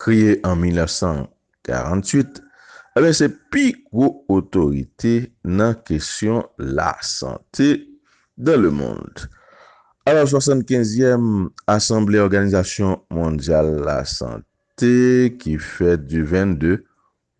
Kreye an 1948, Anben se pi gwo otorite nan kesyon lasante dans le monde. A la 75 yèm Asanble Òganizasyon Mondyal Lasante ki fèt du 22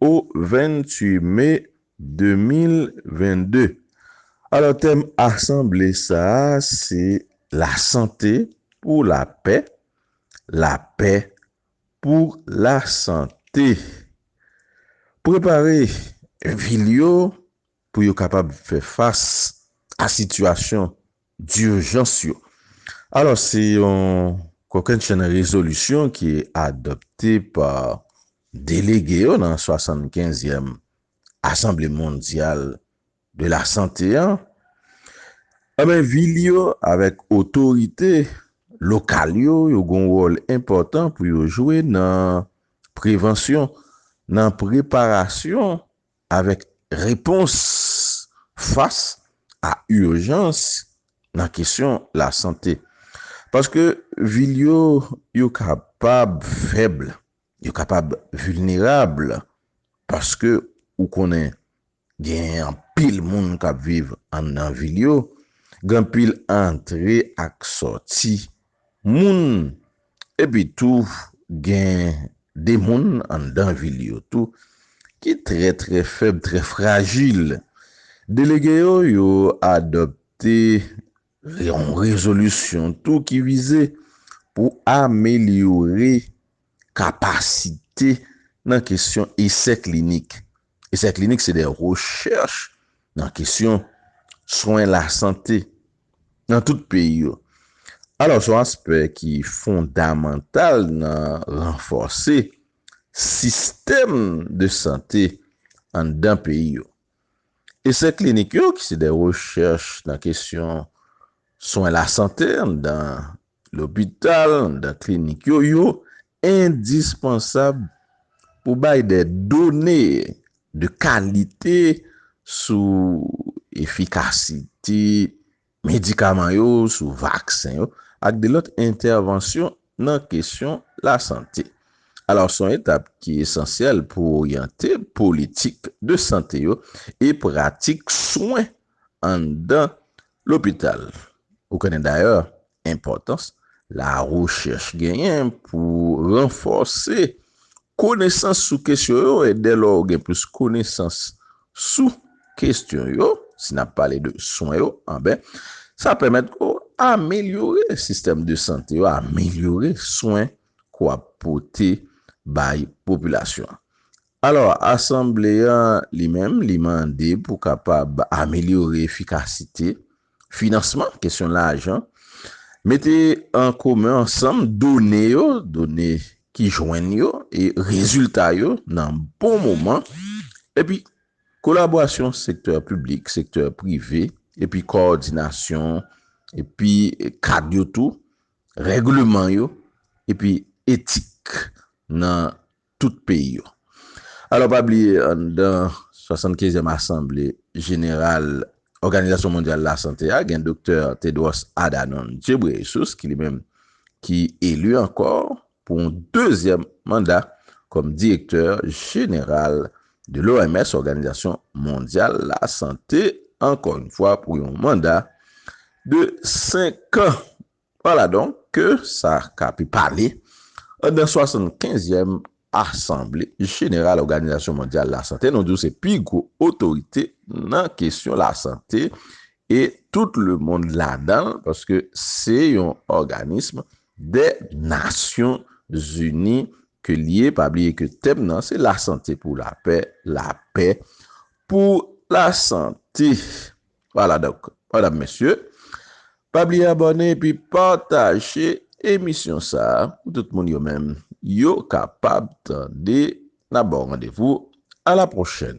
o 28 me 2022. Alò tèm asanble sa a se Lasante pou lapè, lapè pou lasante. Prepare vil yo pou yo kapab fè fas a sitiyasyon dirjans yo. Alò, se yon kokennchenn rezolisyon ki adopte pa delege yo nan 75 yèm Asanble Mondyal de la Sante an, anben vil yo avèk otorite lokal yo, yo gon wòl enpòtan pou yo jwe nan prevansyon, nan preparasyon avèk repons fas a ijans nan kesyon lasante. Paske vil yo, yo kapab fèb, yo kapab vilnerab, paske ou konnen genyen anpil moun k ap viv anndan vil yo, gen anpil antre ak sòti. moun epi tou gen de moun anndan vil yo tou ki trè trè fèb, trè frajil. Delege yo yo adopte yon rezolisyon tou ki vize pou amelyore kapasite nan kesyon esè klinik. Esè klinik se de rechèch nan kesyon swen lasante nan tout peyi yo. Alò, se yon aspè ki fondamantal nan ranfòse sistèm de sante anndan peyi yo. Esè klinik yo, ki se de rechèch nan kesyon swen lasante anndan Lopital dan klinik yo yo endispansab pou bay de done de kalite sou efikasite medikaman yo, sou vaksen yo ak de lòt entèvansyon nan kesyon lasante. Alò, son etap ki esansyèl pou oryante politik de sante yo e pratik swen anndan lopital. Ou konnen dayè enpòtans larechèch genyen pou ranfòse konesans sou kesyon yo e dè lò ou gen plis konesans sou kesyon yo, si n ap pale de swen yo, anben sa pèmèt ke w amelyore sistèm de sante yo, amelyore swen ke w ap pote bay popilasyon an. Alò, Asanble an li menm, li mande pou kapab amelyore efikasite finansman, kesyon lajan, mete an komen ansanm done yo, done ki jwenn yo e rezilta yo nan bon moman, epi kolaborasyon sektè piblik, sektè prive, epi kowòdinasyon, epi kad yo tou, règleman yo, epi etik nan. tout peyi yo. Alò pa bliye anndan 75 èm asanble jeneral Òganizasyon Mondyal Lasante a gen Doktè Tedros Adhanom Ghebreyesus ki li menm ki eli ankò pou yon dezyèm manda kòm direktè jeneral de l'OMS, Òganizasyon Mondyal Lasante, ankò yon fwa pou yon manda de 5 an. Ala donk ke sa ka pi pale anndan swasannkenzyèm asanble jeneral Òganizasyon Mondyal Lasante, nou di w se pi gwo otorite nan kesyon lasante e tout lemonn ladan l, paske se yon òganism dè nasyon zini ke l ye, pa bliye ke tèm nan se lasante pou lapè, lapè pou lasante. Wala donk madam mesye pa bliye abòne epi pataje emisyon sa pou tout moun yo menm yo kapab tande na baw randevou a la pwochèn.